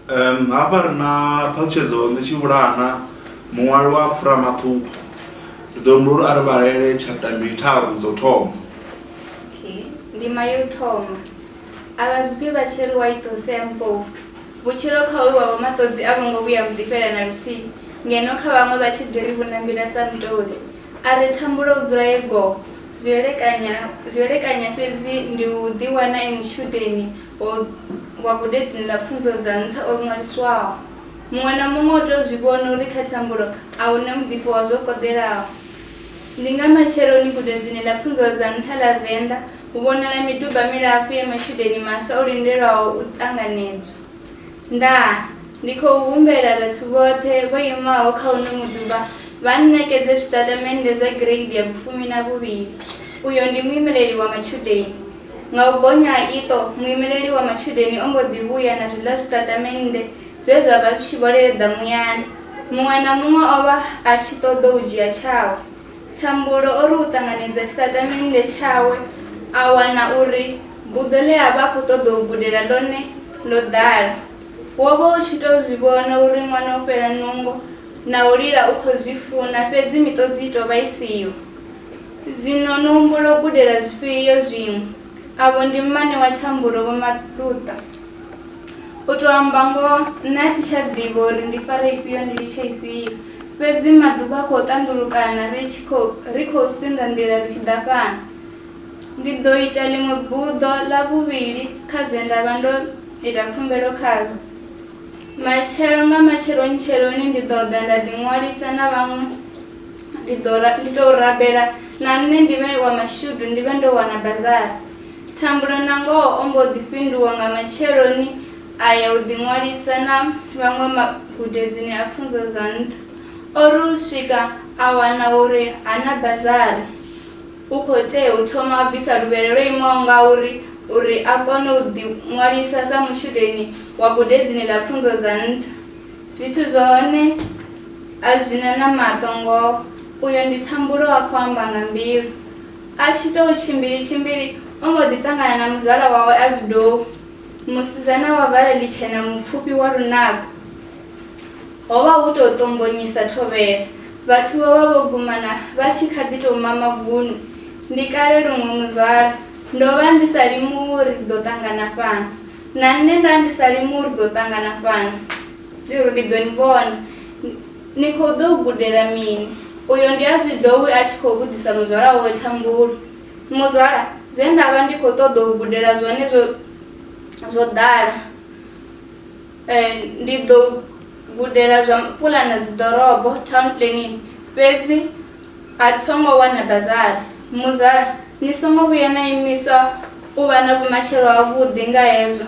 um hafha ri na phaṱhutshedzo ndi tshi vhulana muṅwali wa pfura maṱuku ri ḓo humbula uri a ri vhalele chapta mbili tharu dzo thoma ndima yo thoma a vha zwifhi vha tshi ri wa itose ya mpofu vhutshilo kha uyu wavho maṱodzi a vho ngo vhuya muḓifhela na luthihi ngeno kha vhaṅwe vha tshi ḓi ri vhunambila sa mutoli A re thambulo u dzula e goo. Zwi elekanya, zwi elekanya fhedzi ndi u ḓiwana e mutshudeni wa, wa gudedzini ḽa pfunzo dza nṱha o ṅwaliswaho. Muṅwe na muṅwe u tou zwi vhona uri kha thambulo a hu na muḓifho wa zwo koḓelaho. Ndi nga matsheloni gudedzini ḽa pfunzo dza nṱha ḽa Venḓa hu vhonala miduba milapfu ya matshudeni maswa o lindelwaho u ṱanganedzwa. Ndaa, ndi khou humbela vhathu vhoṱhe vho imaho kha uno muduba vha nṋekedze zwitatamennde zwa gireidi ya vhufumi na vhuvhili. Uyo ndi muimeleli wa matshudeni. Nga u bonya ha iṱo, muimeleli wa matshudeni o mbo ḓi vhuya na zwiḽa zwitatamennde zwe zwa vha zwi tshi vho leḓa muyani. Muṅwe na muṅwe o vha a tshi ṱoḓou dzhia tshawe. Thambulo o ri u ṱanganedza tshiṱatamennde tshawe a wana uri buḓo ḽe a vha a khou ṱoḓa u gudela ḽone ḽo ḓala. Wo vha u tshi tou zwi vhona uri ṅwana o fhela nungo na u lila u khou zwi funa fhedzi miṱodzi i tou vha i siho. Zwino no humbula u gudela zwifhio zwiṅwe? Avho ndi mmane wa Thambulo, Vho Maluta. U tou amba ngoho, nṋe a thi tsha ḓivha uri ndi fare ifhio ndi litshe ifhio. Fhedzi maḓuvha a khou ṱanḓulukana ri tshi khou ri khou sinḓa nḓila ri tshi ḓa fhano. Ndi ḓo ita ḽiṅwe buḓo ḽa vhuvhili kha zwe nda vha ndo ita khumbelo khazwo. Matshelo nga matsheloni-tsheloni ndi ḓo ḓa nda ḓiṅwalisa na vhaṅwe ndi ḓo ndi tou rabela na nṋe ndi vhe wa mashudu ndi vhe ndo wana bazari. Thambulo nangoho o mbo ḓi fhinduwa nga matsheloni a ya u ḓiṅwalisa na vhaṅwe magudedzini a pfunzo dza nṱha. O ri u swika a wana uri ha na bazari, u khou tea u thoma a bvisa luvhele lwo imaho ngauri uri a kone u ḓiṅwalisa sa mutshudeni wa gudedzini ḽa pfunzo dza nṱha. Zwithu zwa hone a zwi na na maṱo ngoho, uyo ndi Thambulo a khou amba nga mbilu. A tshi tou tshimbili-tshimbili, o mbo ḓi ṱangana na muzwala wawe a zwidou, musidzana wa vhala ḽitshena mupfufhi wa lunako. Ho vha hu tou ṱombonyisa thovhela, vhathu vho vha vho gumana vha tshi kha ḓi tou mama vunu. Ndi kale luṅwe muzwala, ndo vha ndi sa limuwi uri ri ḓo ṱangana fhano. Na nṋe nda ndi sa limuwi uri ḓo ṱangana fhano, uri ndi ḓo ni vhona. Ni khou ḓou gudela mini? Uyo ndi a zwi ḓo we a tshi khou vhudzisa muzwala wawe Thambulo. Muzwala, zwe nda vha ndi khou ṱoḓa u gudela zwone zwo zwo ḓala. Ndi ḓo gudela zwa pulana dzi ḓorobo, town planning, fhedzi a tho ngo wana bazari. Muzwala, ni songo vhuya na imiswa u vha na vhumatshelo ha vhuḓi nga hezwo.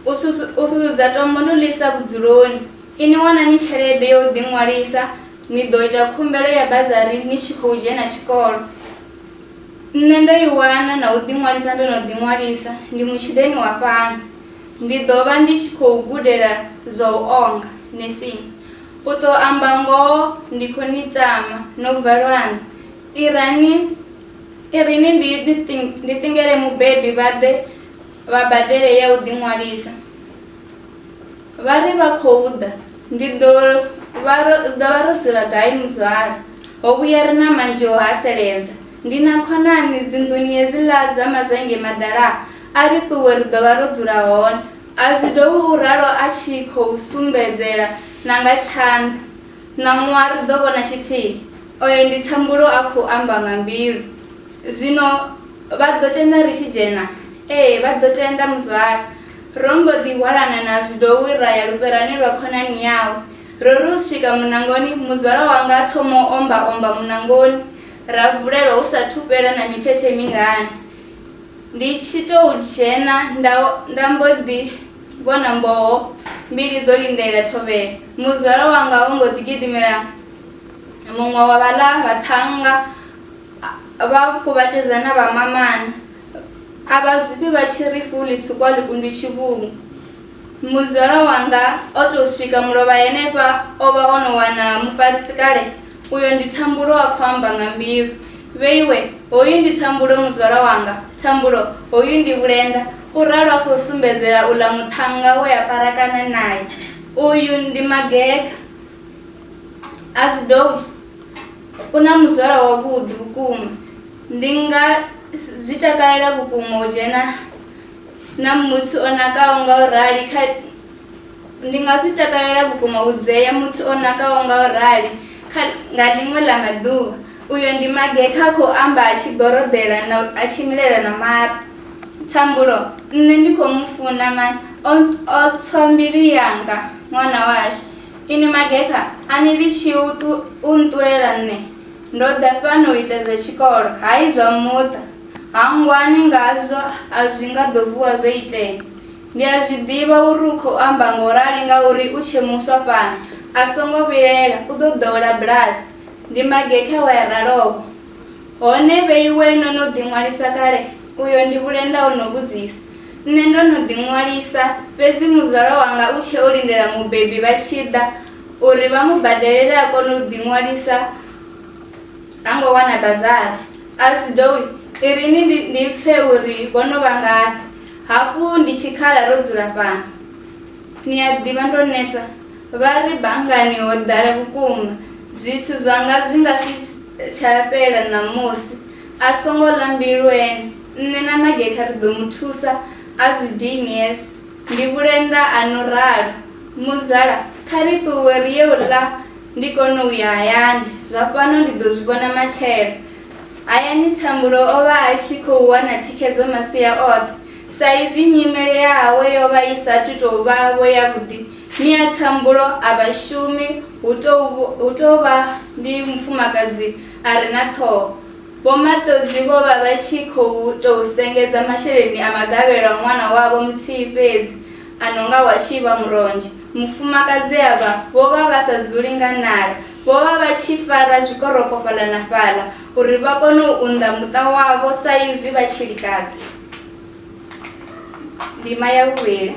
U susudzedza tombo no ḽi isa vhudzuloni. Inwi wanani tshelede ya u ḓiṅwalisa, ni ḓo ita khumbelo ya bazari ni tshi khou dzhena tshikolo. Nṋe ndo i wana na u ḓiṅwalisa ndo no ḓiṅwalisa, ndi mutshudeni wa fhano. Ndi ḓo vha ndi tshi khou gudela zwa u onga, nursing. U tou amba ngoho ndi khou ni tama, no bva lwanga. Irani, irini ndi ḓi, ndi ṱingele mubebi vha ḓe. vha badele ya u ḓiṅwalisa. Vha ri vha khou ḓa, ndi ḓo vha ro ḓo vha ro dzula gai muzwala? Ho vhuya ri na manzhi o haseledza. Ndi na khonani dzinḓuni hedziḽa dza Mazenge Madala, a ri ṱuwe ri ḓo vha ro dzula hone. A zwi dovhi u ralo a tshi khou sumbedzela na nga tshanḓa. Ṋaṅwaha ri ḓo vhona tshithihi, oyo ndi Thambulo a khou amba nga mbilu. Zwino vha ḓo tenda ri tshi dzhena? Ee, vha ḓo tenda, muzwala. Ro mbo ḓi hwalana na zwidowi ra ya lufherani lwa khonani yawe. Ro ri u swika muṋangoni, muzwala wanga a thoma u omba-omba muṋangoni. Ra vulelwa hu sa thu fhela na mithethe mingana. Ndi tshi tou dzhena nda, nda mbo ḓi vhona mboho mbili dzo lindela thovhela. Muzwala wanga o mbo ḓi gidimela muṅwe wa vhaḽa vhaṱhannga. Vha kuvhatedza na vha mamani. A vha zwifhi vha tshi ri fuli tsukwa ḽikundwi tshivhungu. Muzwala wanga o tou swika mulovha henefha o vha o no wana mufarisi kale, uyo ndi Thambulo a khou amba nga mbilu. Vheiwe, hoyu ndi Thambulo muzwala wanga, Thambulo, hoyu ndi Vhulenda, u ralo a khou sumbedzela uḽa muṱhannga we a parakana nae. Uyu ndi Mageka. A zwi dowi. U na muzwala wavhuḓi vhukuma. Ndi nga zwi takalela vhukuma u dzhena na muthu o nakaho nga u rali kha ndi nga zwi takalela vhukuma u dzea muthu o nakaho nga u rali kha nga ḽiṅwe ḽa maḓuvha. Uyo ndi Magekha a khou amba a tshi goroḓela na a tshi milela na mara. Thambulo, Nṋe ndi khou mu funa man o o tswa mbilu yanga ṅwana washu. Inwi magekha, a ni litshi u nṱulela nṋe. Ndo ḓa fhano u ita zwa tshikolo, hai zwa muṱa. Hangwani ngazwo, a zwi nga ḓo vuwa zwo itea. Ndi a zwi ḓivha uri u khou amba nga u rali ngauri u tshe muswa fhano. A songo vhilaela, u ḓo ḓowela bulasi. Ndi magekha we a ralo-vho. Hone vhe iwe no no ḓiṅwalisa kale? Uyo ndi Vhulenda o no vhudzisa. Nṋe ndo no ḓiṅwalisa, fhedzi muzwala wanga u tshe o lindela mubebi vha tshi ḓa uri vha mu badelele a kone u ḓiṅwalisa ha ngo wana bazari. Alcdouy, i ri ni ndi, ndi pfe uri vho no vha ngafhi. Hafhu ndi tshikhala ro dzula fhano. Ni a ḓivha ndo neta. Vha ri, Banngani ho ḓala vhukuma, zwithu zwanga zwi nga si tsha fhela ṋamusi. A songo ḽa mbilu ene, nṋe na Mageka ri ḓo mu thusa a zwi dini hezwo. Ndi vhulenda, a no ralo. Muzwala, kha ri ṱuwe ri ye u ḽa ndi kone u ya hayani, zwa fhano ndi ḓo zwi vhona matshelo. Hayani Thambulo o vha a tshi khou wana thikhedzo masia oṱhe. Sa izwi nyimele yawe yo vha i sa athu tou vha-vho yavhuḓi, Miatshambulo a vha shumi hu tou hu tou vha ndi mufumakadzi a re na ṱhoho. Vho Maṱodzi vho vha vha tshi khou tou sengedza masheleni a magavhelo a ṅwana wavho muthihi fhedzi a no nga wa tshivha muronzhe. Mufumakadzi avha vho vha vha sa dzuli nga nala, vho vha vha tshi fara zwikoroko fhaḽa na fhaḽa uri vha kone u unḓa muṱa wavho sa izwi vha tshilikadzi. Ndima ya vhuvhili.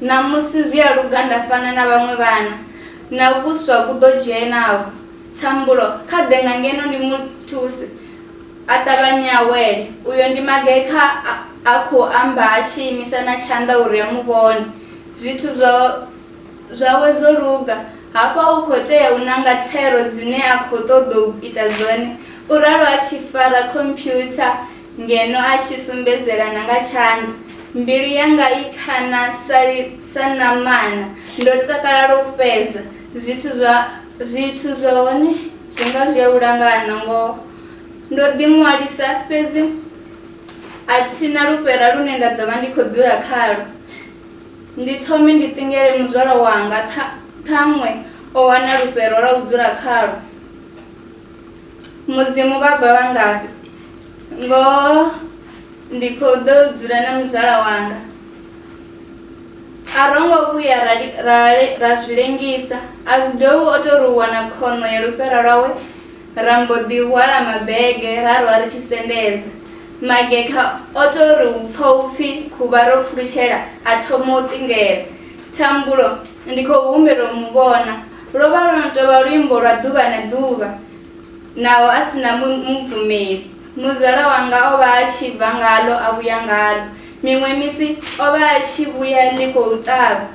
Ṋamusi zwi a luga nda fana na vhaṅwe vhana, na vhuswa vhu ḓo dzhena-vho. Thambulo, kha ḓe nga ngeno ndi mu thuse. A ṱavhanye a wele. Uyo ndi magekha a a khou amba a tshi imisa na tshanḓa uri a mu vhone. Zwithu zwa zwawe zwo luga. Hafha u khou tea u nanga thero dzine a khou ṱoḓou ita dzone, u ralo a tshi fara khomphyutha. Ngeno a tshi sumbedzela na nga tshanḓa, mbilu yanga i khana sa, sa ṋamana. Ndo takala lwa u fhedza. Zwithu zwa, zwithu zwa hone zwi nga zwi a u langana, ngoho. Ndo ḓiṅwalisa, fhedzi a thi na lufhera lune nda ḓo vha ndi khou dzula khalwo. Ndi thome ndi ṱingele muzwala wanga, ṱha, ṱhaṅwe o wana lufhero lwa u dzula khalwo. Mudzimu vha bva vha ngafhi? Ngoho ndi khou ḓo dzula na muzwala wanga. A ro ngo vhuya ra, ra, ra zwi lengisa. A zwi dovhi o tou ri wana khono ya lufhera lwawe ra mbo ḓi hwala mabege ra rwa ri tshi sendedza. Magekha o tou ri u pfa u pfi khuvha ro pfulutshela a thoma u ṱingela. Thambulo, ndi khou humbela u mu vhona. Lwo vha lwo no tou vha luimbo lwa ḓuvha na ḓuvha, naho a si na mubvumeli. Muzwala wanga o vha a tshi bva ngaḽo a vhuya ngaḽo. Miṅwe misi o vha a tshi vhuya ḽi khou ṱavha.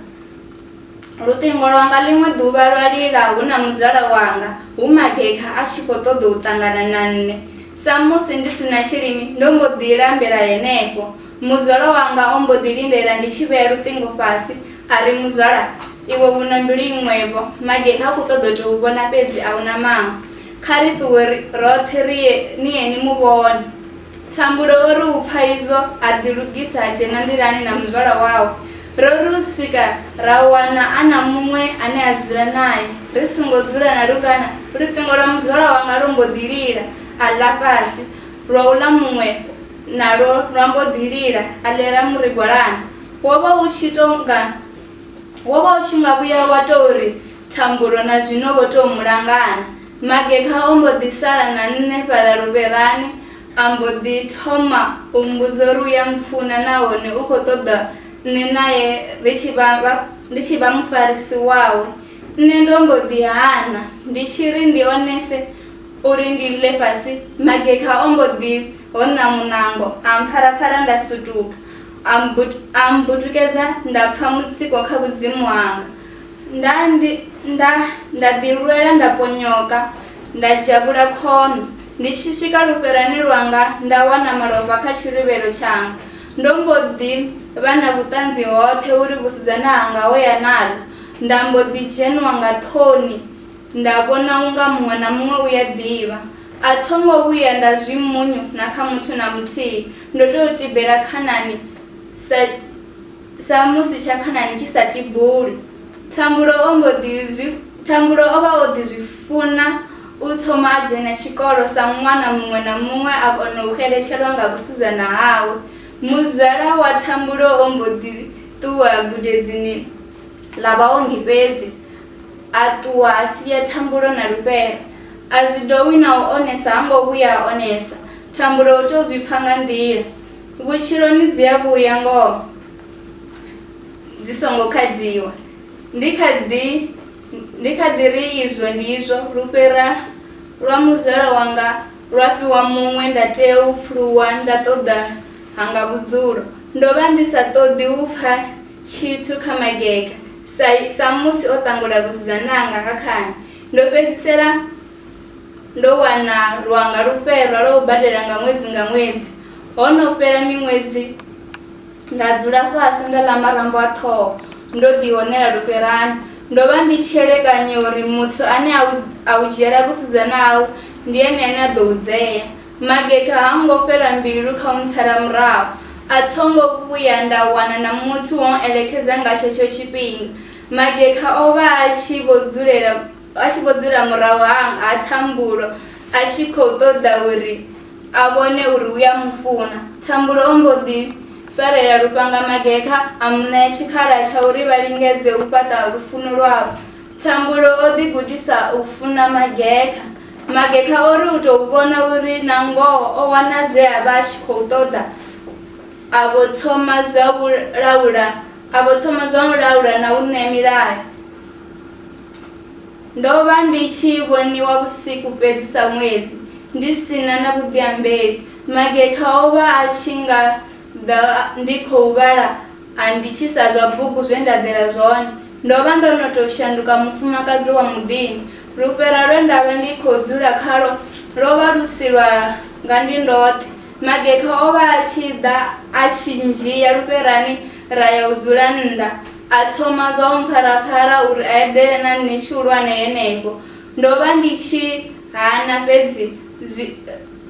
Luṱingo lwanga ḽiṅwe ḓuvha lwa lila hu na muzwala wanga, hu magekha a tshi khou ṱoḓa u ṱangana na nṋe. Samusi ndi si na tshilimi, ndo mbo ḓi lambela henefho. Muzwala wanga o mbo ḓi lindela ndi tshi vhea luṱingo fhasi, A ri, Muzwala, iwe u na mbilu iṅwe-vho. Mage ha khou ṱoḓa u tou u vhona fhedzi, a u na maṅwe. Kha ri ṱuwe ri roṱhe ri ye, ni ye ni mu vhone. Thambulo o ri u pfa izwo, a ḓilugisa a dzhena nḓilani na muzwala wawe. Ro ri u swika ra wana a na muṅwe ane a dzula nae. Ri songo dzula na lungana, luṱingo lwa muzwala wanga lwo mbo ḓi lila, a ḽa fhasi. Lwa uḽa muṅwe nalwo lwa mbo ḓi lila, a ḽela murigwalana. Wo vha u tshi tou nga wo vha u tshi nga vhuya wa tou ri thambulo na zwino vho tou mu langana. Magekha o mbo ḓi sala na nṋe fhaḽa luvherani a mbo ḓi thoma u mmbudza uri u ya mpfuna nahone u khou ṱoḓa nṋe nae ri tshi vha vha ndi tshi vha mufarisi wawe. Nṋe ndo mbo ḓi hana ndi tshi ri ndi onese uri ndi ḽe fhasi, Magekha o mbo ḓi hoṋa muṋango a mpfarapfara nda sutuka. A mmbut, a mmbutukedza nda pfa mutsiko kha vhudzimu hanga. Nda, ndi, nda, nda ḓilwela nda ponyoka, nda dzhavhula khono. Ndi tshi swika lufherani lwanga nda wana malofha kha tshiluvhelo tshanga. Ndo mbo ḓi vha na vhuṱanzi hoṱhe uri vhusidzana hanga ho ya naḽo. Nda mbo ḓi dzhenwa nga ṱhoni nda vhona unga muṅwe na muṅwe u ya ḓivha. A tho ngo vhuya nda zwi mmunyu na kha muthu na muthihi. Ndo tea u tibela khanani sa, sa musi tsha khanani tshi sa tibuli. Thambulo o mbo ḓi zwi, Thambulo o vha o ḓi zwi funa u thoma a dzhena tshikolo sa ṅwana muṅwe na muṅwe a kona u xeletshelwa nga vhusidzana hawe. Muzwala wa Thambulo o mbo ḓi ṱuwa gudedzini ḽa vhaongi fhedzi, a ṱuwa a sia Thambulo na Lufhera. A zwi dovhi na u onesa ha ngo vhuya a onesa. Thambulo u tou zwi pfa nga nḓila. Vhutshiloni dzi a vhuya ngoho dzi songo khadiwa. Ndi kha ḓi ndi kha ḓi ri izwo ndi izwo, lufhera lwa muzwala wanga lwa fhiwa muṅwe nda tea u pfuluwa nda ṱoḓa hanga vhudzulo. Ndo vha ndi sa ṱoḓi u pfa tshithu kha magega sa samusi o ṱangula vhusidzananga ha khani. Ndo fhedzisela Ndo wana lwanga lu fherwa lwa u badela nga ṅwedzi nga ṅwedzi. Ho no fhela miṅwedzi nda dzula fhasi nda ḽa marambo a ṱhoho ndo ḓihonela lufherani. Ndo vha ndi tshi elekanya uri muthu ane a u a u dzhiela vhusidzana hau ndi ene ane a ḓo u dzea. Mageka ha ngo fhela mbilu kha u ntsala murahu, a tho ngo vhuya nda wana na muthu wa u eletshedza nga tshetsho tshifhinga. Mageka o vha a tshi vho dzulela. a tshi vho dzula murahu ha ha Thambulo a tshi khou ṱoḓa uri a vhone uri u a mu funa. Thambulo o mbo ḓi farela lufhanga Magekha a mu ṋea tshikhala tsha uri vha lingedze u fhaṱa lufuno lwavho. Thambulo o ḓi gudisa u funa Magekha. Magekha o ri u tou vhona uri na ngoho o wana zwe a vha a tshi khou ṱoḓa a vho thoma zwa u laula a vho thoma zwa u laula na u ṋea milayo. Ndo vha ndi tshi vhoniwa vhusiku fhedzi sa ṅwedzi, ndi si na na vhuḓiambeli. Magekha o vha a tshi nga ḓa ndi khou vhala a nditshisa zwa bugu zwe nda ḓela zwone. Ndo vha ndo no tou shanduka mufumakadzi wa muḓini. Lufhera lwe nda vha ndi khou dzula khalwo lwo vha lu si lwa nga ndi ndoṱhe. Magekha o vha a tshi ḓa a tshi ndzhia lufherani ra ya u dzula nnḓa A thoma zwa u mpfarapfara uri a eḓele na nṋe tshihulwane henefho. Ndo vha ndi tshi hana, fhedzi zwi,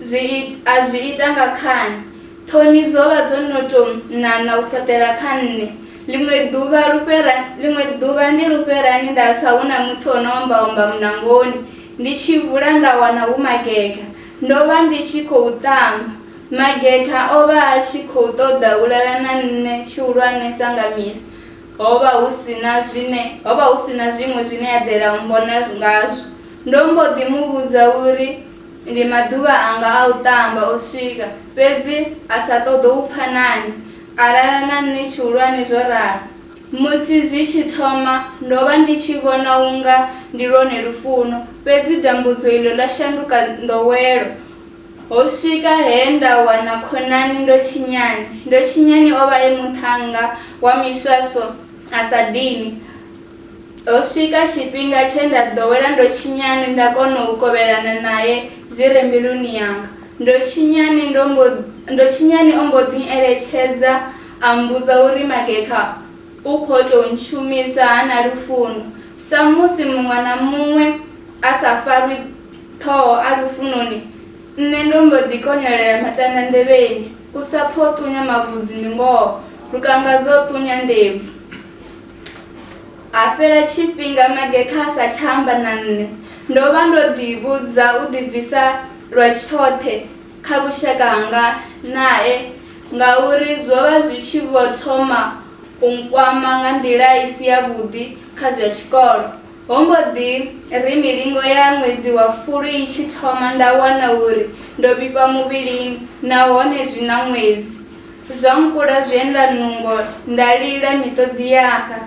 zwi, a zwi ita nga khani. Ṱhoni dzo vha dzo no tou ṋaṋa u fhaṱela kha nṋe. Ḽiṅwe ḓuvha, lufhera, ḽiṅwe ḓuvha ndi lufherani nda pfa hu na muthu o no omba-omba muṋangoni. Ndi tshi vula nda wana hu magega. Ndo vha ndi tshi khou tamba. Mageta o vha a tshi khou ṱoḓa u lala na nṋe tshihulwane sa nga misi. Ho vha hu si na zwine ho vha hu si na zwiṅwe zwine a ḓela u mmbona ngazwo. Ndo mbo ḓi mu vhudza uri ndi maḓuvha anga a u ṱamba o swika, fhedzi a sa ṱoḓo u pfa nane a lala na nṋe tshihulwane zwo ralo. Musi zwi tshi thoma, ndo vha ndi tshi vhona u nga ndi lwone lufuno, fhedzi dambudzo iḽo ḽa shanduka nḓowelo Ho swika he nda wana khonani Ndotshinyani. Ndotshinyani o vha e muṱhannga wa miswaswo a sa dini. Ho swika tshifhinga tshe nda ḓowela Ndotshinyani nda kona u kovhelana nae zwi re mbiluni yanga. Ndotshinyani ndo mbo Ndotshinyani o mbo ḓi eletshedza a mmbudza uri Magekha u khou tou ntshumisa ha na lufuno. Samusi muṅwe na muṅwe a sa farwi Ṱhoho a lufunoni, nṋe ndo mbo ḓi konyolela matanda nḓevheni, u sa pfa o ṱunya mavhudzi ndi ngoho, Lukangazwe o ṱunya ndebvu. Ha fhela tshifhinga Magekha a sa tsha amba na nṋe, ndo vha ndo ḓi vhudza u ḓibvisa lwa tshoṱhe kha vhushaka hanga nae ngauri zwo vha zwi tshi vho thoma u nkwama nga nḓila i si yavhuḓi kha zwa tshikolo. Ho mbo ḓi ri milingo ya ṅwedzi wa Fulwi i tshi thoma nda wana uri ndo vhifha muvhilini nahone zwi na ṅwedzi. Zwa nkula zwienda nungo nda lila miṱodzi ya xa,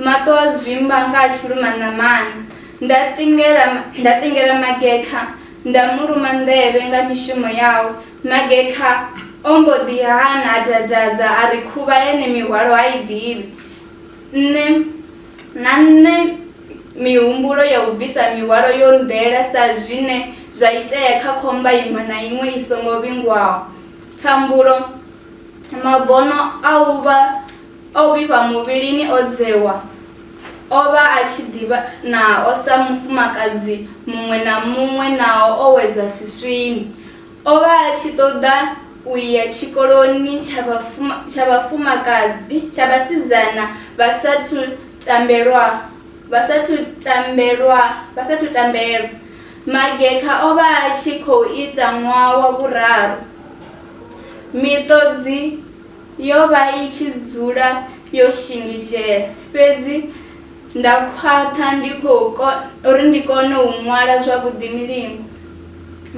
maṱo a zwimba nga a tshi luma ṋamana. Nda ṱingela nda ṱingela Magekha nda mu luma nḓevhe nga mishumo yawe. Magekha o mbo ḓi hana a dadadza a ri khuvha yane mihwalo ha i ḓivhi. Nṋe na nṋe mihumbulo ya u bvisa mihwalo yo nḓela sa zwine zwa itea kha khomba iṅwe na iṅwe i songo vhingwaho. Thambulo, mabono a u vha a u vhifha muvhilini o dzewa o vha a tshi ḓivha nao sa mufumakadzi muṅwe na muṅwe naho o wedza swiswini. O vha a tshi ṱoḓa u ya tshikoloni tsha vhafuma, tsha vhafumakadzi tsha vhasidzana vha sa thu tambelwa vha sa thu tambelwa vha sa thu tambelwa. Magekha o vha a tshi khou ita ṅwaha wa vhuraru. Miṱodzi yo vha i tshi dzula yo shingizhela, fhedzi. Nda khwaṱha ndi khou kona uri ndi kone u ṅwala zwavhuḓi milingo,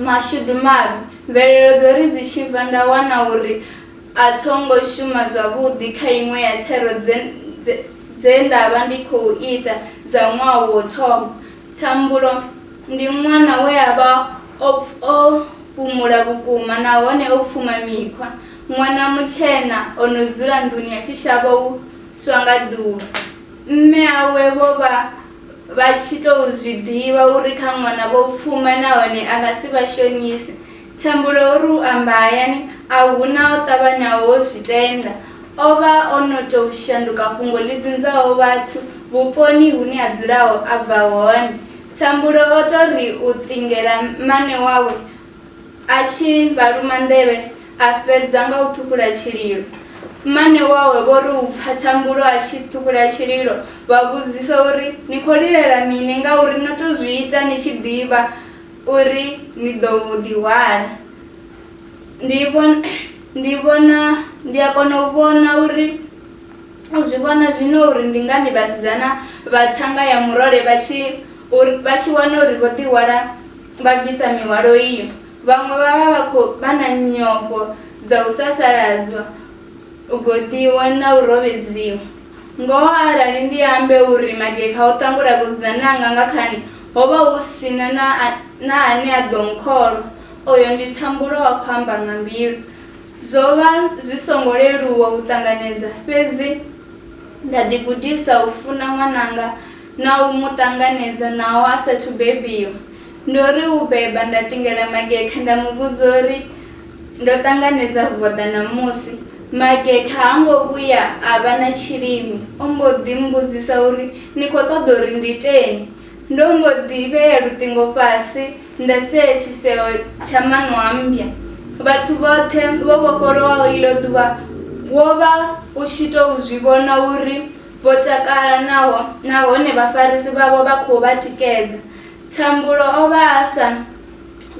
mashudu mavhi, mvelelo dzo ri dzi tshi bva nda wana uri a tho ngo shuma zwavhuḓi kha iṅwe ya thero dze dze dze nda vha ndi khou ita dza ṅwaha wo thoma. Thambulo ndi ṅwana we a vha o o fhumula vhukuma nahone o pfuma mikhwa, ṅwana mutshena o no dzula nḓuni a tshi shavha u swa nga ḓuvha. Mme awe vho vha vha tshi tou zwi ḓivha uri kha ṅwana vho pfuma nahone a nga si vha shonise. Thambulo o ri u amba hayani a hu na o ṱavhanyaho u zwi tenda. O vha o no tou shanduka fhungo ḽi dzinzaho vhathu vhuponi hune a dzulaho a bva hone. Thambulo o tou ri u ṱingela mmane wawe A tshi vha luma nḓevhe, a fhedza nga u ṱhukhula tshililo. Mmane wawe vho ri u pfa thambulo a tshi ṱhukhula tshililo, vha vhudzisa uri, Ni khou lilela mini ngauri no tou zwi ita ni tshi ḓivha uri ni ḓo ḓihwala? Ndi ndi vhona ndi a kona u vhona uri u zwi vhona zwino uri ndi ngani vhasidzana vha thanga ya murole vha tshi vha tshi wana uri vho ḓihwala. Vha bvisa mihwalo iyo, vhaṅwe vha vha vha khou vha na nyofho dza u sasaladzwa, u goḓiwa na u rovhedziwa. Ngoho arali ndi ambe uri magekha o ṱangula vhusidzana hanga nga khani, ho vha hu si na na ane a ḓo nkholwa. Oyo ndi Thambulo a khou amba nga mbilu. Zwo vha zwi songo leluwa u ṱanganedza, fhedzi nda ḓigudisa u funa ṅwananga. na u mu ṱanganedza naho a sathu bebiwa. Ndo ri u beba nda ṱingela Magekha nda mu vhudza uri ndo ṱanganedza voḓa ṋamusi. Magekha ha ngo vhuya a vha na tshilimo, o mbo ḓi mmbudzisa uri ni khou ṱoḓa uri ndi iteni. Ndo mbo ḓi vhea luṱingo fhasi nda sea tshiseo tsha maṋo a mmbya. Vhathu vhoṱhe vho vhofholowaho iḽo ḓuvha wo vha u tshi tou zwi vhona uri Vho takala naho nahone vhafarisi vhavho vha khou vha tikedza. Thambulo o vha a sa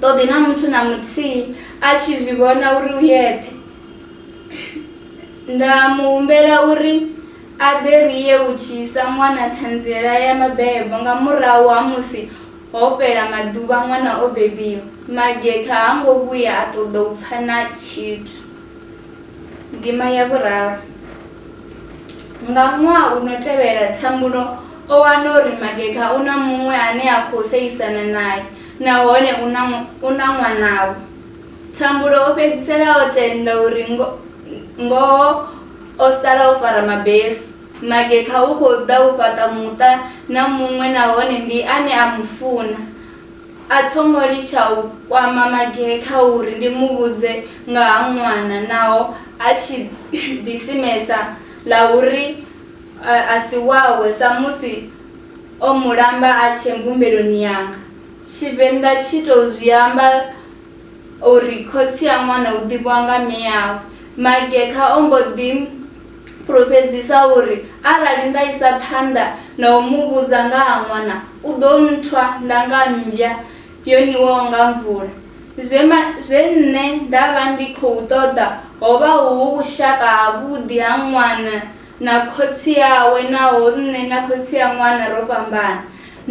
ṱoḓi na muthu na muthihi a tshi zwi vhona uri u yeṱhe. Nda mu humbela uri a ḓe ri ye u dzhisa ṅwana ṱhanziela ya mabebo nga murahu ha musi ho fhela maḓuvha ṅwana o bebiwa. Magetha ha ngo vhuya a ṱoḓa u pfa na tshithu. Ndima ya vhuraru. Nga ṅwaha u no tevhela Thambulo o wana uri Mageka u na muṅwe ane a khou seisana nae nahone u na u na ṅwanavho. Thambulo o fhedzisela o tenda uri ngo ngoho o sala o fara mabesu. Mageka u khou ḓa u fhaṱa muṱa na muṅwe nahone ndi ane a mu funa. A tho ngo litsha u kwama Magee kha uri ndi mu vhudze nga ha ṅwana naho a tshi ḓisimesa ḽa uri a si wawe samusi o mu lamba a tshee mbumbeloni yanga. Tshivenḓa tshi tou zwi amba. O ri, Khotsi a ṅwana u ḓivhiwa nga mme awe. Magekha o mbo ḓi fhulufhedzisa uri, Arali nda isa phanḓa na u mu vhudza nga ha ṅwana, u ḓo nthwa nda nga mmbya yo niwaho nga mvula. Zwe ma, zwe nṋe nda vha ndi khou ṱoḓa ho vha hu vhushaka havhuḓi ha ṅwana na khotsi awe naho nṋe na khotsi a ṅwana ro fhambana.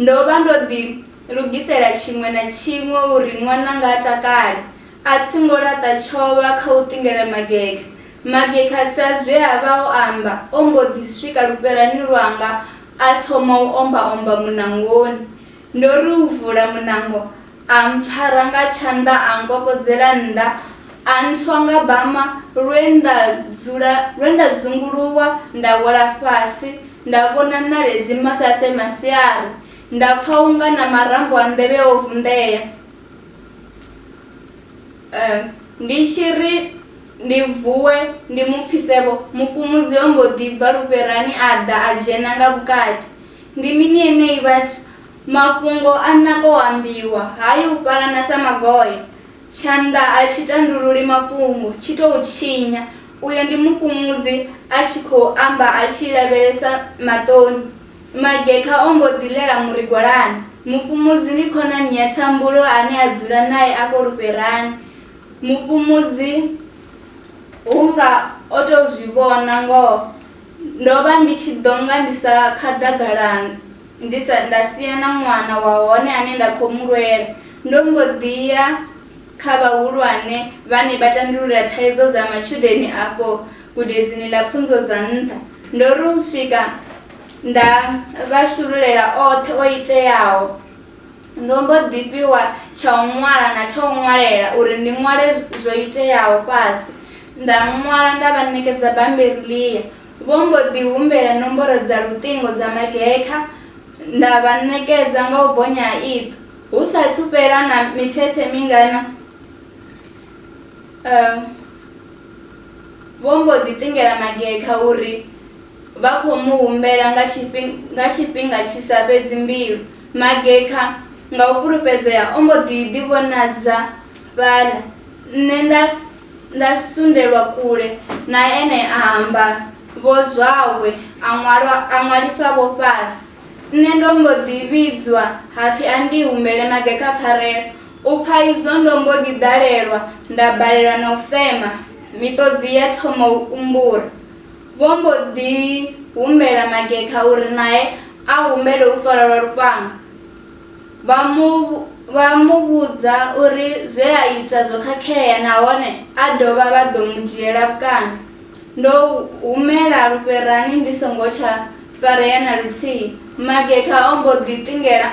Ndo vha ndo ḓi. Lugisela tshiṅwe na tshiṅwe uri ṅwananga a takale. A thi ngo laṱa tshovha kha u ṱingela Mageka. Mageka sa zwe a vha o amba, o mbo ḓi swika lufherani lwanga a thoma u omba-omba muṋangoni. Ndo ri u vula muṋango, a mpfara nga tshanḓa a nkokodzela nnḓa, a nthwa nga bama lwe nda dzula lwe nda dzunguluwa nda wela fhasi nda vhona ṋaledzi masase masiari. Nda pfa u nga na marambo a nḓevhe o vunḓea. Eh, ndi tshi ri ndi vuwe ndi mu pfise-vho, mufhumudzi o mbo ḓi bva lufherani a ḓa a dzhena nga vhukati. Ndi mini enei vhathu? Mafhungo a naka o ambiwa, ha yi u fhalana sa magoya. Tshanḓa a tshi tandululi mafhungo, tshi tou tshinya. Uyo ndi mufhumudzi a tshi khou amba a tshi lavhelesa maṱoni. Magekha o mbo ḓi ḽela murigwalani. Mufhumudzi ndi khonani ya Thambulo ane a dzula nae afho lufherani. Mufhumudzi hu nga o tou zwi vhona ngoho ndo vha ndi tshi ḓo nga ndi sa khaḓagala ndi sa nda sia na ṅwana wa hone ane nda khou mu lwela. Ndo mbo ḓi ya kha vhahulwane vhane vha tandulula thaidzo dza matshudeni afho. Gudedzini ḽa pfunzo dza nṱha, ndo ri u swika nda vha shululela oṱhe o iteaho. Ndo mbo ḓi fhiwa tsha u ṅwala na tsha u ṅwalela uri ndi ṅwale zwo iteaho fhasi. Nda ṅwala nda vha ṋekedza bammbiri ḽia. Vho mbo ḓi humbela nomboro dza luṱingo dza magekha nda vha ṋekedza nga u bonya ha iṱo. Hu sa athu fhela na mithethe mingana, Vho mbo ḓi ṱingela magekha uri vha khou mu humbela nga nga tshifhinga tshi sa fhedzi mbilu. Magekha nga u fhulufhedzea o mbo ḓi ḓi vhonadza fhaḽa, nṋe nda nda sundelwa kule na ene a amba vho zwawe a ṅwalwa a ṅwaliswa vho fhasi. Nṋe ndo mbo ḓi vhidzwa hapfi a ndi humbele magekha pfarelo, U pfa izwo ndo mbo ḓi ḓalelwa nda balelwa na u fema, miṱodzi ya thoma u umbura. Vho mbo ḓi humbela Magekha uri nae a humbele u farwa lwa lufhanga. Vha mu vha mu vhudza uri zwe a ita zwo khakhea nahone a dovha vha ḓo mu dzhiela vhukando. Ndo humela lufherani ndi songo tsha farea na luthihi. Magekha o mbo ḓi ṱingela.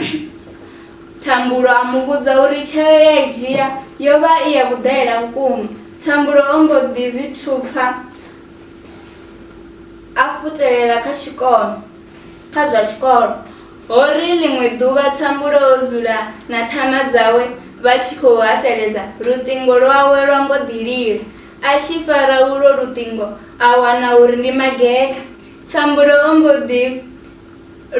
Thambulo a mu vhudza uri tsheo ye a i dzhia yo vha i ya vhuḓaela vhukuma. Thambulo o mbo ḓi zwi thupha a futelela kha tshikolo kha zwa tshikolo. Ho ri ḽiṅwe ḓuvha Thambulo o dzula na ṱhama dzawe vha tshi khou haseledza, luṱingo lwawe lwa mbo ḓi lila. A tshi fara ulwo luṱingo a wana uri ndi Mageka. Thambulo o mbo ḓi.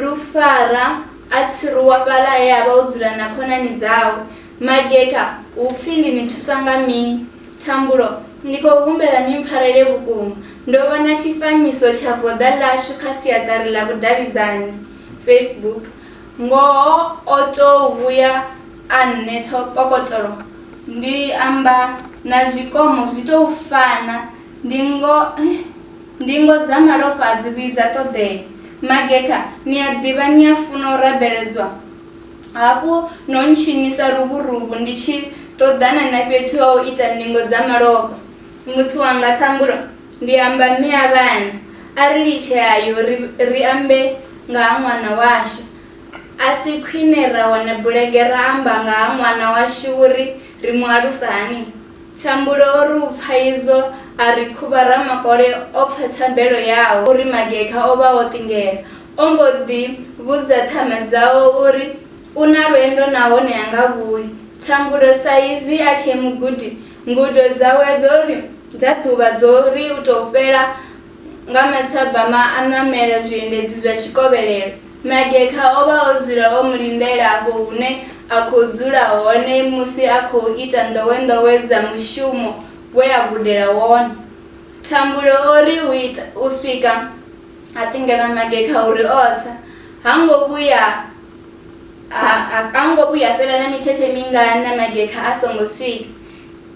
Lufara a tsiruwa fhaḽa he a vha o dzula na khonani dzawe. Mageka, Hu pfi ndi ni thusa nga mini? Thambulo, Ndi khou humbela ni mpfarele vhukuma. Ndo vhona tshifanyiso tsha voḓa ḽashu kha siaṱari ḽa vhudavhidzani, Facebook. Ngoho o tou vhuya a nnetha kokotolo. Ndi amba na zwikomo zwi tou fana. Ndi ngo. Ndingo dza malofha a dzi vhuyi dza ṱoḓea. Magekha, ni a ḓivha ni a funa u rabeledzwa. Hafhu no ntshinyisa luvhuruvhu ndi tshi ṱoḓana na fhethu ha u ita ndingo dza malofha. Muthu wanga Thambulo, ndi amba mme a vhana, a ri litshe a yo ri ri ambe nga ha ṅwana washu. A si khwine ra wana bulege ra amba nga ha ṅwana washu uri ri mu alusa hani? Thambulo o ri u pfa izwo, a ri khuvha ramakole o pfa thabelo yawe uri magekha o vha o ṱingela. O mbo ḓi vhudza ṱhama dzawe uri u na lwendo nahone ha nga vhuyi. Thambulo sa izwi a tshee mugudi, ngudo dzawe dzo ri dza ḓuvha dzo ri u tou fhela, Nga mathabama a ṋamela zwiendedzi zwa tshikovhelelo, Magekha o vha o dzula o mu lindela afho hune a khou dzula hone musi a khou ita nḓowenḓowe dza mushumo we a gudela wone. Thambulo o ri u ita u swika a ṱingela Magekha uri o tsa, ha ngo vhuya ha ha ngo vhuya ha fhela na mithethe mingana Magekha a songo swika.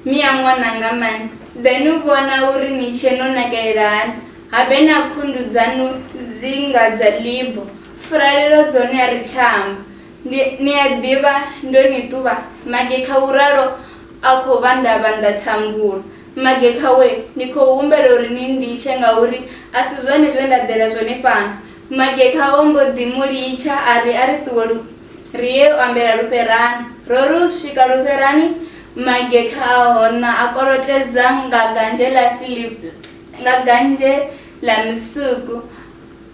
Mia ṅwananga Man, ḓe nu vhona uri ni tshe no nakelela hani, habe na khundu dzanu dzi nga dza libo, furalelo dzone a ri tsha amba. Ndi, ni a ḓivha, ndo ni ṱuvha, Magekha u ralo a khou vhanḓavhanḓa thambulo. Magekha wee, ndi khou humbela uri ni nditshe ngauri a si zwone zwe nda ḓela zwone fhano. Magekha vho mbo ḓi mu litsha a ri a ri ṱuwe lu. Ri ye u ambela lufherani. Ro ri u swika lufherani, magekha a hona a kolotedza nga ganzhe ḽa silv, nga ganzhe ḽa misuku.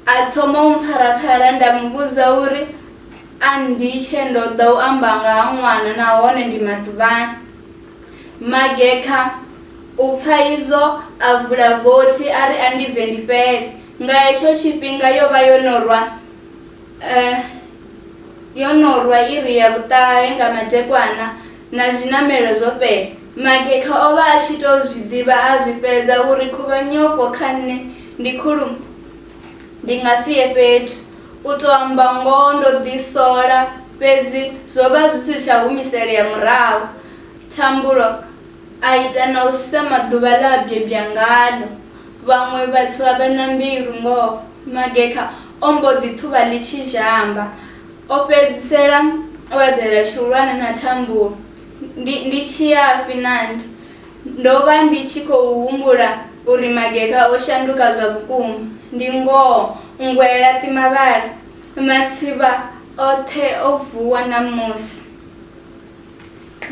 A thoma u mpfaraphara nda mu vhudza uri a nditshe ndo ḓa u amba nga ha ṅwana nahone ndi maḓuvhani. Magekha u pfa izwo a vula vothi a ri a ndi bve ndi fhele. Nga hetsho tshifhinga yo vha yo no rwa. Eh, yo no rwa iri ya vhuṱahe nga madekwana na zwiṋamelo zwo fhela. Magekha o vha a tshi tou zwi ḓivha a zwi fhedza uri khuvhanyofho kha nṋe ndi khulu ndi nga si ye fhethu. U tou amba ngoho ndo ḓisola fhedzi zwo vha zwi si tsha humiselea murahu. Thambulo a ita na u sema ḓuvha ḽe a bebya ngaḽo. Vhaṅwe vhathu a vha na mbilu ngoho. Magekha O mbo ḓi ṱhuvha ḽitshi zhamba. O fhedzisela o eḓela tshihulwane na thambulo. Ndi, ndi tshi yafhi Nandi? Ndo vha ndi tshi khou humbula uri mageka o shanduka zwa vhukuma. Ndi ngoho, nngwe ya laṱi mavhala. Matsivha oṱhe o vuwa ṋamusi.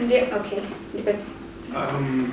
Ndi, okay, ndi fhedze. Um,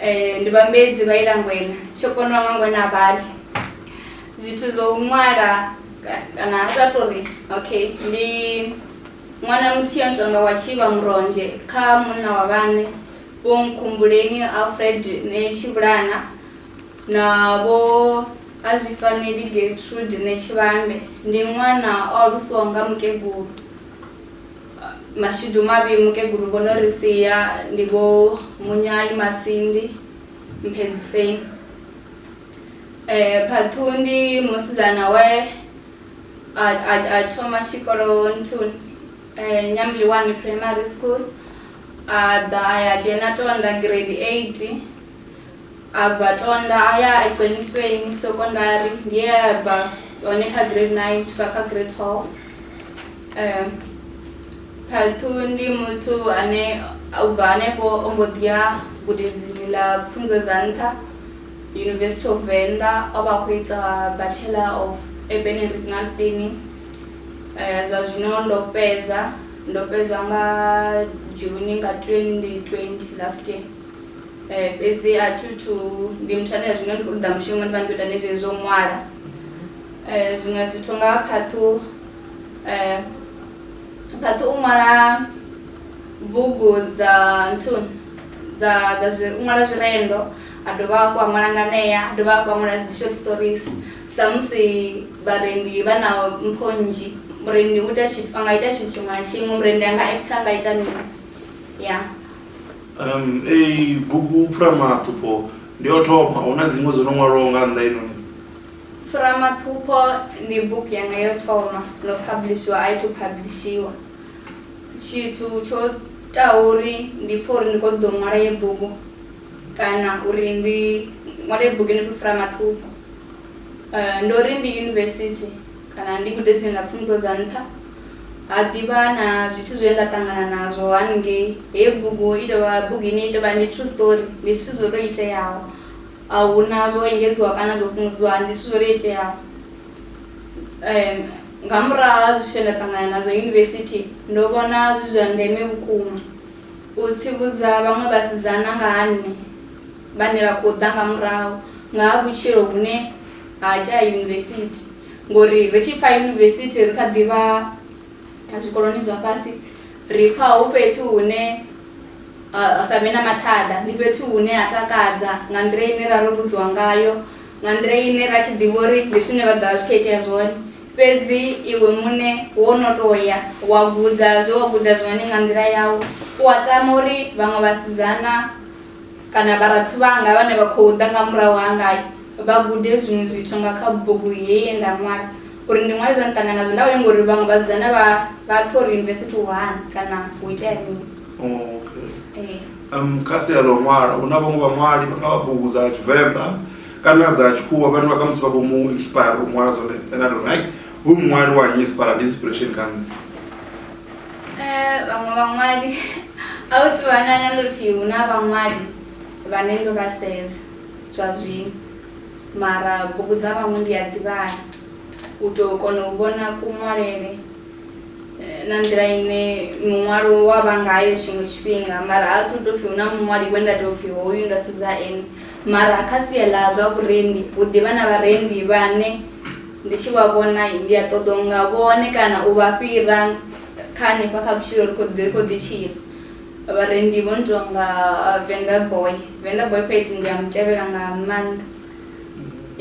Eh, ndi vhambedzi vha ilangwena tsho konwa nga ngwena a vhali zwithu zwo u ṅwala ka- kana a sa tori okay ndi ṅwana muthihi a ntonga wa tshivha muronzhe kha munna wa vhaṋe vho nkhumbuleni alfred ne tshivhulana na vho a zwi faneli getrude ne tshivhande ndi ṅwana o alusiwaho nga mukegulu Mashudu mavhi mukegulu vho no ri sia ndi Vho Munyai Masindi Mphedziseni. Phaṱhuu ndi musidzana we a thoma tshikolo nthuni Nyambiliwani Primary School a ḓa a ya dzhena Tonda Grade 8. A bva Tonda a ya Eqenisweni Sekondari nge a ya bva hone kha grade 9 u swika kha grade 12. Um Phathu ndi muthu ane u bva hanefho o mbo ḓi ya gudedzini ḽa pfunzo dza nṱha University of Venḓa o vha a khou ita Bachelor of Urban and Regional Planning. Zwa zwino ndo fhedza ndo fhedza nga June nga 2020 last year. Eh, fhedzi a thi thu ndi muthu ane zwino ndi khou ṱoḓa mushumo ndi vha ndi khou ita ne zwezwi zwo ṅwala Eh, zwiṅwe zwithu nga ha phaṱhu eh, phaṱhu u ṅwala bugu dza nthuni dza dza zwi u ṅwala zwirendo a dovha hafhu a ṅwala nganea a dovha hafhu a ṅwala dzi short stories samusi vharendi vha na mpho nnzhi murendi u ita tshithu a nga ita tshithu tshiṅwe na tshiṅwe murendi a nga actor a nga ita mini ya um ei bugu pfuramaṱhupho ndi o thoma hu na dziṅwe dzo no ṅwalwaho nga nnḓa inoni pfuramaṱhupho ndi bugu yanga yo thoma no publishiwa a i to publishiwa tshithu tsho taho uri ndi pfha uri ndi kho ḓo ṅwala ye bugu kana uri ndi ṅwale bugu ni khou fura maṱhupho um eh, ndo ri ndi yunivesithi kana ndi gude dziṅwe na pfunzo dza nṱha ha ḓivha na zwithu zwe nda ṱangana nazwo haningei heyi bugu i tovha bugu ine i tovha ndi true story ndi zwithu zwo to iteaho a hu na zwo engedziwa kana zwo fhungudziwa ndi zwithu zwo to iteaho um nga murahu ha zwithu zwe nda ṱangana nazwo yunivesithi ndo vhona zwi zwa ndeme vhukuma u tsivhudza vhaṅwe vhasidzana nga ha nṋe vhane vha khou ḓa nga murahu nga ha vhutshilo vhune ha tea yunivesithi ngori ri tshi pfa yunivesithi ri kha ḓivha zwikoloni zwa fhasi ri pfa hu fhethu hune ha sa vhe na mathada ndi fhethu hune ha takadza nga nḓila ine ra ro vhudziwa ngayo nga nḓila ine ra tshi ḓivha uri ndi zwine vha ḓovha zwi kho itea zwone fhedzi iwe muṋe wo no to ya wa guda zwe wa guda zwone nga nḓila yau u a tama uri vhaṅwe vhasidzana Kana vharathu vhanga vhane vha khou ḓa nga murahu hanga vha gude zwiṅwe zwithu nga kha bugu heyi ye nda ṅwala. Uri ndi ṅwale zwe nda ṱangana nazwo, nda vha lenga uri vhaṅwe vhasidzana vha vha pfe uri yunivesithi hu hani kana hu itea mini. Okay. Um, kha sia ḽa u ṅwala hu na vhaṅwe vhaṅwali vha nga vha bugu dza tshivenḓa kana dza tshikhuwa vhane vha khamusi vha khou mu inspire u ṅwala zwone ane a tou right hu muṅwali wa nyi inspire ndi inspiration kha nṋe Vhaṅwe vhaṅwali a hu tou vha na na ndo pfhi hu na vhaṅwali vhane ndo vha sedza zwa zwino mara bugu dza vhaṅwe ndi a ḓivhala u tou kona u vhona kuṅwalele na nḓila ine muṅwalo wa vha ngayo tshiṅwe tshifhinga mara a thu to pfhi hu na muṅwali we nda tou pfhi hoyu ndo sedza ane mara kha sia ḽa zwa vhurendi hu ḓivha na vharendi vhane Ndi tshi vha vhona, ndi a ṱoḓa u nga vhone kana u vha fhira kha hanefha kha vhutshilo ri khou ri khou ḓi tshila. Vharendi vho no tou nga Venḓa Boy, Venḓa Boy Pete ndi a mu tevhela nga maanḓa.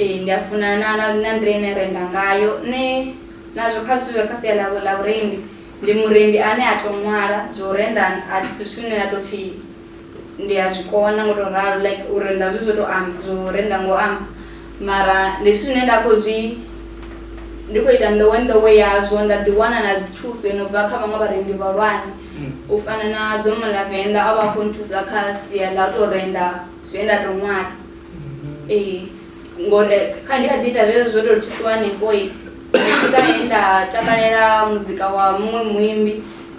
Ee, ndi a funa na na na nḓila ine a renda ngayo. Nṋe nazwo kha zwithu zwa kha sia ḽa ḽa vhurendi ndi murendi ane a tou ṅwala zwa u renda a si zwithu zwine ha tou pfhi. Ndi a zwi kona ngo to ralo like u renda zwi zwo to amba zwo renda ngo amba mara ndi zwithu zwine nda khou zwi ndi khou ita nḓowe nḓowe yazwo nda ḓi wana na dzi thuso yo no bva kha vhaṅwe vharendi vhahulwane u fana na dzo mala venḓa a vha khou nthusa kha sia ḽa u tou renda zwe nda tou ṅwala ee ngori kha ndi kha ḓi ita zwezwo zwo tou thusiwa hanefhoi ndi tshi swika he nda takalela muzika wa muṅwe muimbi.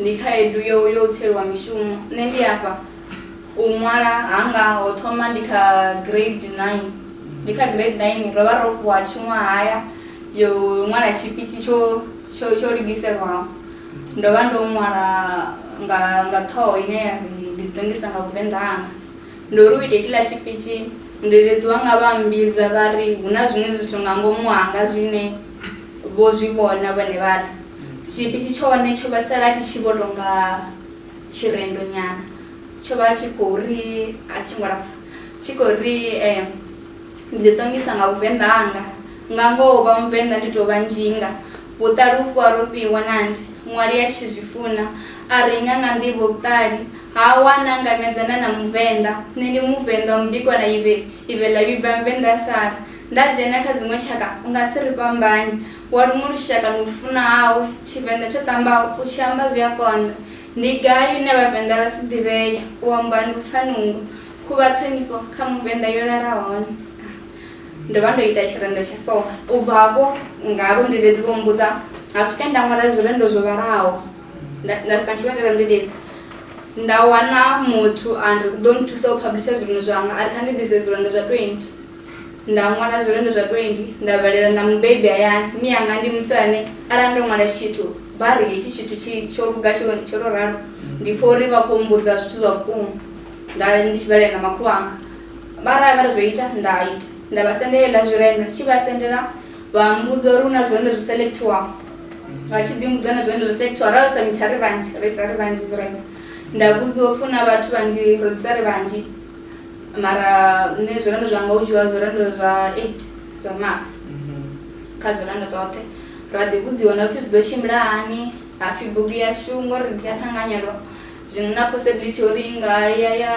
Ndi khaedu yo yo u tsweliwa mishumo. Nṋe ndi afha u ṅwala hanga ho thoma ndi kha grade 9. Ndi kha grade 9 ro vha ro fhiwa tshiṅwahaya yo ṅwala tshipitshi tsho tsho tsho lugiselwaho. Ndo vha ndo ṅwala nga nga ṱhoho ine ya ri ndi ḓi ṱongisa nga vhuvenḓa hanga. Ndo ri u ita hetshila tshipitshi mudededzi wanga vha mmbidza vha ri hu na zwiṅwe zwithu nga ngomu hanga zwine. Vho zwi vhona vhone vhaṋe. Tshipitshi tshone tsho vha sala tshi tshi vho tou nga tshirendo nyana. Tsho vha tshi khou ri, a tshi ngo lapfa, tshi khou ri, Ndi ḓi ṱongisa nga Vhuvenḓa hanga. Nga ngoho u vha Muvenḓa ndi tou vha nzhinga. Vhuṱali ufho a ro fhiwa na ndi. Ṅwali a tshi zwi funa. A renga nga nḓivho vhuṱali. Ha a wana a ngamedzana na Muvenḓa. Nṋe ndi Muvenḓa, mubikwa na ive, ive ḽa vhibva, Muvenḓa a sala. Nda dzhena kha dziṅwe tshaka u nga si ri fhambanye Wa luṅwe lushaka ni u funa hawe Tshivenḓa tsho ṱambaho u tshi amba zwi a konḓa Ndi gai hune Vhavenḓa vha si ḓivhee U amba ndi u pfa nungo Khuvha ṱhonifho kha Muvenḓa yo lala hone ah, Ndo vha ndo ita tshirendo tsha so U bva hafho nga vhundededzi vho mmbudza Ha swike nda ṅwala zwirendo zwo vhalaho Nda, nda swika Tshivhanda ḽa vhundededzi Nda wana muthu a ri u ḓo nthusa u phablisha zwirendo zwanga A ri kha ndi ḓise zwirendo zwa 20 Nda ṅwala zwirendo zwa 20 nda vhalela na mubebi hayani. Mme anga ndi muthu ane arali ndo ṅwala tshithu vha ri hetshi tshithu tshi tsho luga tsho tsho to ralo ndi pfha uri vha khou mbudza zwithu zwa vhukuma nda ndi tshi vhalela na makhulu anga vha arali vha ri zwo ita nda ita nda vha sendela heiḽa zwirendo ndi tshi vha sendela vha mbudza uri hu na zwirendo zwi selectiwaho vha tshi ḓi mbudza na zwirendo zwi selectiwaho ra sa mitsha ri vhanzhi ri sa ri vhanzhi zwirendo nda vhudziwa u funa vhathu vhanzhi ro ḓisa ri vhanzhi mara nṋe zwirendo zwanga hu dzhiwa zwirendo zwa eight zwa mara kha zwirendo zwoṱhe ra ḓi vhudziwa na pfhi zwi ḓo tshimbila hani hapfhi bugu yashu ngori ndi ya ṱhanganyelwa zwino na possibility uri i nga ya ya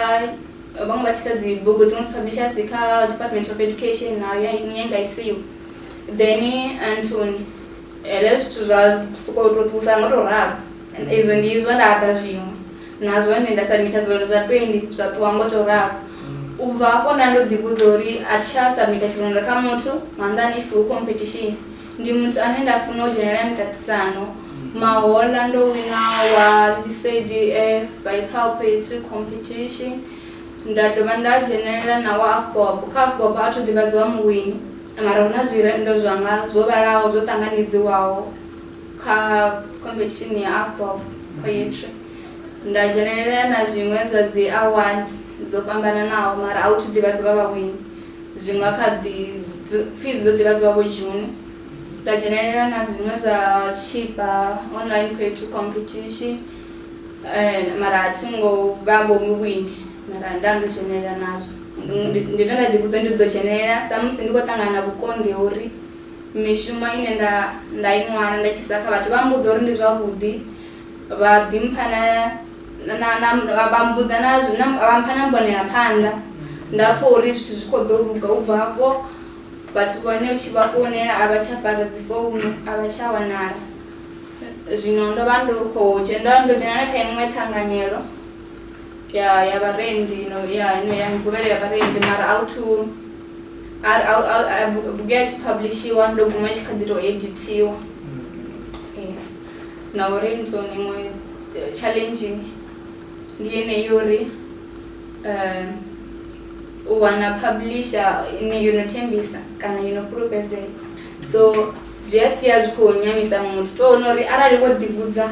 vhaṅwe vha tshisa dzi bugu dziṅwe dzi publishers kha department of education nayo ya iṅwe ya nga isiwa then anthony hezwo zwithu zwa sokou tou ṱuwisa nga u tou ralo izwo ndi izwo nda ḓa zwiṅwe Na zwone nda samitha zwilolo zwa 20 zwa ṱuwa ngo tou ralo. U bva hafho nda ndo ḓivhudza uri a thi tsha samitha tshilolo kha muthu, nga nnḓani if hu khompethishini. Ndi muthu ane nda funa u dzhenelela miṱaṱisano. Mahoḽa ndo wina wa Lesedi e Vital Poetry Competition, nda dovha nda dzhenelela na wa Afgob. Kha Afgob a tho ḓivhadziwa muwini mara hu na zwirendo zwanga zwo vhalaho zwo ṱanganedziwaho. kha khomphethishini ya Afpop Poetry nda dzhenelela na zwiṅwe zwa dzi award dzo fhambananaho mara a hu thu ḓivhadziwa vhawini zwi nga kha ḓi pfhi ḓo ḓivhadziwa vho June nda dzhenelela na zwiṅwe zwa tshipa online poetry competition um mara a thi ngo vha vho muwini mara nda ndo dzhenelela nazwo ndi zwe nda ḓi vhudza ndi ḓo dzhenelela samusi ndi khou ṱangana na vhukonḓi ha uri mishumo ine nda nda i ṅwala nda tshisa kha vhathu vha mbudza uri ndi zwavhuḓi vha ḓi mpha na vha mbudza na zwine vha mpha na mbonela phanḓa nda pfha uri zwithu zwi kho ḓo luga u bva hafho vhathu vhane u tshi vha founela a vha tsha fara dzi founu a vha tsha wanala zwino ndo vha ndo kho dzhena ndo dzhenela kha iṅwe ṱhanganyelo ya ya vharendi no ya no ya mvuvhelo ya vharendi mara a u thu Ar- au- au- a- bu- bugu ya tshi phablishiwa ndo guma i tshi kha ḓi tou edithiwa Yeah. na uri ndi zwone iṅwe eh, challenge ndi yeneyo uri um u wana publisher ine yo no thembisa kana yo no fhulufhedzea so zwi a sia zwi khou nyamisa muthu to wana uri arali vho ḓivhudza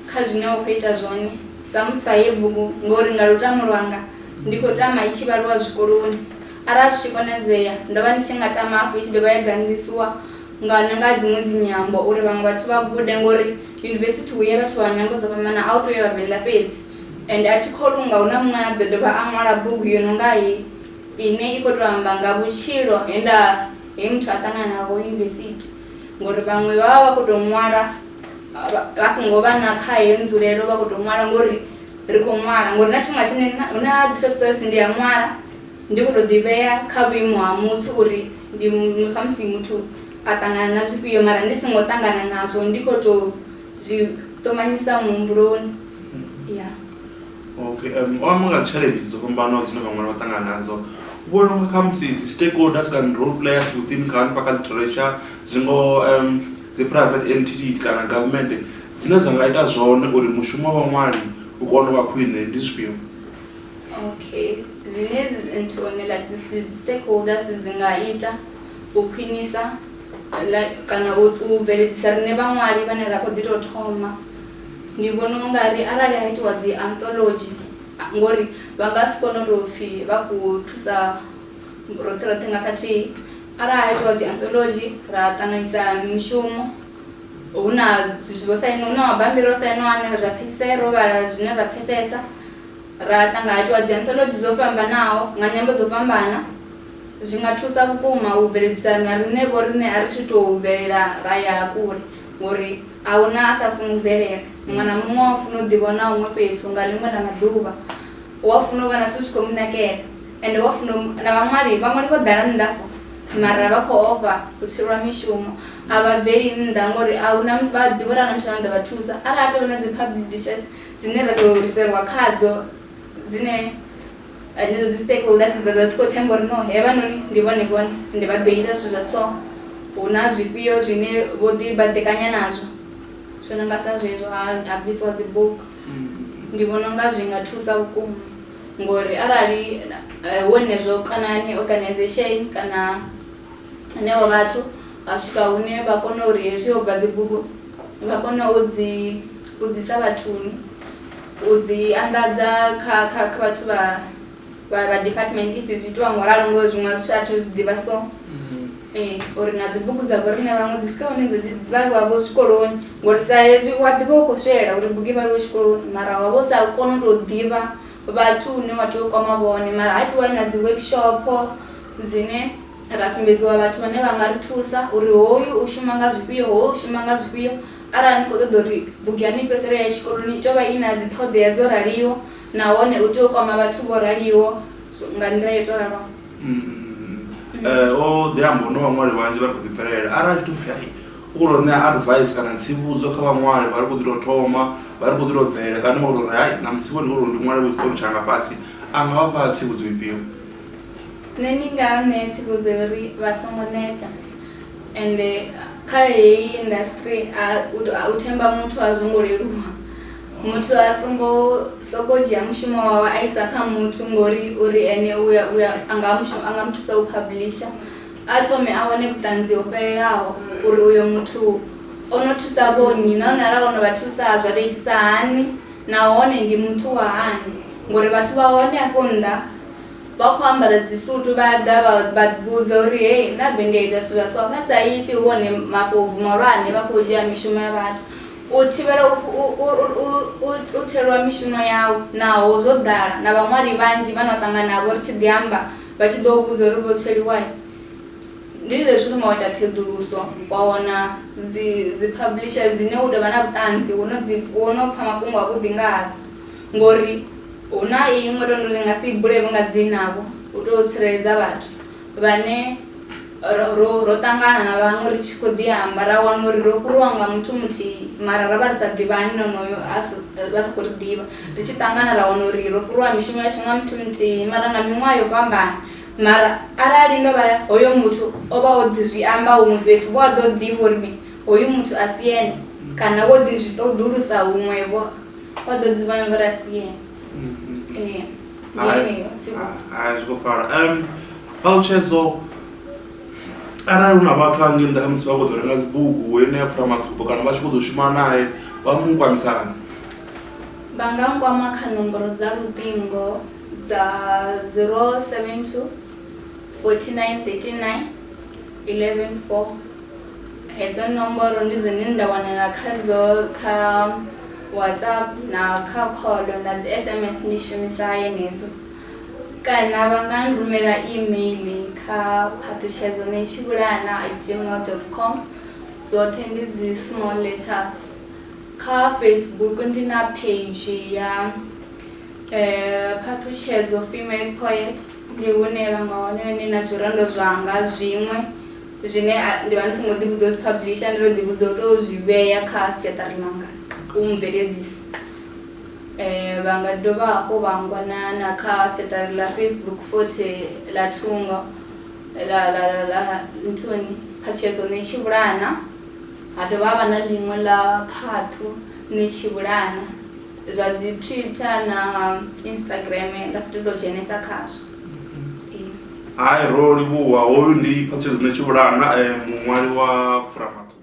kha zwine wa khou ita zwone. Samusa ye bugu Ngori nga Lutamo Lwanga ndi khou tama i tshi vhaliwa zwikoloni, arali zwi tshi konadzea ndo vha ndi tshi nga tama hafhu i tshi dovha ya ganḓisiwa nga nga dziṅwe dzinyambo uri vhaṅwe vhathu vha gude ngori yunivesithi hu ya vhathu vha nyambo dzo fhambanaho, a hu tou ya Vhavenḓa fhedzi. Ende a thi kholwi u nga hu na muṅwe ane a ḓo dovha a ṅwala bugu yo no nga heyi ine i khou tou amba nga vhutshilo he nda he muthu a ṱangana naho yunivesithi. ngori vhaṅwe vha vha vha khou tou ṅwala vha songo vha na kha heyo nzulelo vha khou tou ṅwala ngori ri khou ṅwala ngori na tshifhinga tshine hu na dzi short stories ndi a ṅwala ndi khou tou ḓivhea kha vhuimo ha muthu uri ndi khamusi muthu a ṱangana na zwifhio mara ndi songo ṱangana nazwo ndi khou tou zwi ṱumanyisa muhumbuloni ya. okay um o amba nga challenges dzo fhambanaho dzine vhaṅwe vha ṱangana nadzo u vhona unga kha musi dzi stakeholders kana role players within kha hanefha kha literature zwi ngo um dzi private entity kana government dzine zwa nga ita zwone uri mushumo wa vhaṅwali u kone u vha khwine ndi zwifhio okay zwine nthu one like dzi stakeholders dzi nga ita u khwinisa kana u bveledzisa rine vhaṅwali vhane ra khou dzi tou thoma Ndi vhona u nga ri arali ha itiwa dzi anthology ngori vha nga si kone u tou pfhi vha khou thusa roṱhe roṱhe nga khathihi arali ha itiwa dzi anthology ra ṱanganyisa mishumo hu na zwithu zwo sainiwa hu na mabambiri o sainiwa ane ra pfhesesa ro vhala zwine ra pfhesesa ra ṱangana ha itiwa dzi anthology dzo fhambanaho nga nyambo dzo fhambana zwi nga thusa vhukuma u bveledzisa na riṋe vho riṋe a ri thi tou bvelela ra ya kule ngori A hu na a sa funi u bvelela. Muṅwe na muṅwe u a funa u ḓivhona huṅwe fhethu nga ḽiṅwe ḽa maḓuvha. U a funa u vha na zwithu zwi khou mu nakela. Ende u a funa u. Na vhaṅwali, vhaṅwali vho ḓala nnḓa afho, mara vha khou ofha u tswelwa mishumo. A vha bveli nnḓa ngauri a hu na, vha a ḓivha uri a hu na muthu ane a ḓo vha thusa. Arali ha tou vha na dzi publishers dzine ra tou riferwa khadzo. dzine henedzo dzi stakeholders dza dzi khou themba uri no hevhanoni ndi vhone vhone ndi vha ḓo ita zwithu zwa so hu na zwifhio zwine vho ḓi baḓekanya nazwo zwo no nga sa zwezwo ha ha bvisiwa dzi bugu ndi vhona unga zwi nga thusa vhukuma ngori arali eh, wenezwo kana ni organization kana henevho vhathu vha swika hune vha kona uri hezwi ho bva dzi bugu vha kona u dzi U dzi isa vhathuni, u dzi anḓadza kha kha kha vhathu vha vha vha department if zwi itiwa ngo ralo ngori zwiṅwe a zwithu a thu zwi ḓivha so ee uri na dzi bugu dza vho riṋe vhaṅwe dzi swika hune dza dzi vhaliwa vho zwikoloni ngori sa hezwi wa ḓivha u khou swielela uri bugu i vhaliwe tshikoloni mara wa vho sa koni u tou ḓivha vhathu hune wa tea u kwama vhone mara ha itiwa na dzi workshop dzine ra sumbedziwa vhathu vhane vha nga ri thusa uri hoyu u shuma nga zwifhio hoyu u shuma nga zwifhio. Arali ni khou ṱoḓa uri bugu yaṋu i fhedzisele ya tshikoloni, i tea u vha i na dziṱhoḓea dzo raliho nahone u tea u kwama vhathu vho raliho nga nḓila yo tou raloho. Ee, o ḓi amba uri na vhaṅwali vhanzhi vha khou ḓipfhelela. Arali tshi tou pfhi hai, u khou tou ṋea advice kana tsivhudzo kha vhaṅwali vha ri khou ḓi tou thoma, vha ri khou ḓi tou bvela kana wa tou ri hai ṋamusi vho ndi khou tou ri ndi ṅwale vho tshiṱori tshanga fhasi, a nga vha fha tsivhudzo ifhio? Nṋe ndi nga vha ṋea tsivhudzo ya uri vha songo neta ende kha heyi industry a u themba muthu a zwo ngo leluwa muthu a songo sokou dzhia mushumo wawe a isa kha muthu ngori uri ene u ya u ya a nga mushumo a nga mu thusa u publisher a thome a wane vhuṱanzi ho fhelelaho uri uyo muthu o no thusa vho nnyi nahone arali vhono vha thusa zwa to itisa hani nahone ndi muthu wa hani ngori vhathu vha hone afho nnḓa. Vha khou ambara dzisutu vha ḓa vha vha vhudza uri hei na bennde ya ita zwithu zwa so vha sa iti hu hone mafobvu mahulwane vha khou dzhia mishumo ya vhathu u thivhela u tswelwa mishumo yau naho zwo ḓala na vhaṅwali vhanzhi vha no ṱangana navho ri tshi ḓi amba vha tshi ḓo vhudza uri vho tsweliwa ndi zwezwi thoma u ita ṱheḓuluso wa wana dzi dzi publisher dzine u tovha na vhuṱanzi wo no dzi wo no pfha mafhungo a vhuḓi nga hadzo ngori. Hu na iṅwe ro ri nga si i bule vho nga dzina-vho u tou tsireledza vhathu vhane ro, ro, ro ṱangana na vhaṅwe ri tshi khou ḓi amba ra wana uri ro fhuriwa nga muthu muthihi mara ra vha ri sa ḓivhani na onoyo a si, vha sa khou ri ḓivha. Ri tshi ṱangana ra wana uri ro fhuriwa mishumo yashu nga muthu muthihi mara nga miṅwaha yo fhambana. Mara arali ndo vha hoyo muthu o vha o ḓi zwi amba huṅwe fhethu, vho a ḓo ḓivha uri mini, hoyu muthu a si ene kana vho ḓi zwi ṱoḓulusa huṅwe-vho. What the divine verse yeah. Eh. zwi khou pfala um ṱalutshedzwa arali hu na vhathu a ngei nḓa kha musi vha khou ḓo renga dzibugu ene a pfula maṱhupo kana vha tshi khou ḓo shuma naye vha mu kwamisana vha nga nkwama kha nomboro dza luṱingo dza 072 49 39 114 Hedzo nomboro ndi dzine nda wanala khadzo kha WhatsApp na kha call na dzi sms ndi shumisa yenedzo kana vha nga rumela email kha phaṱhutshedzo na tshivhulana at gmail dot com dzoṱhe ndi dzi small letters. Kha Facebook ndi na page ya phaṱhutshedzo female poet ndi hune vha nga wana hone na zwirendo zwanga zwiṅwe. Zwine ndi vha ndi songo ḓivhudza u zwi phablisha, ndo tou ḓivhudza u tou zwi vhea kha siaṱari ḽanga u mubveledzisi. Vha nga dovha hafhu vha ngwana na kha siaṱari ḽa Facebook futhi ḽa thungo ḽa ḽa ḽa nthuni phatshedzo ni tshi vhulana, ha dovha ha vha na ḽiṅwe ḽa phaṱhu ni tshi vhulana zwa dzi Twitter na Instagram nda si tu to dzhenesa khazwo. hai ro livhuwa hoyu ndi phatshedzo ne tshivhulana eh, muṅwali wa furamaṱuku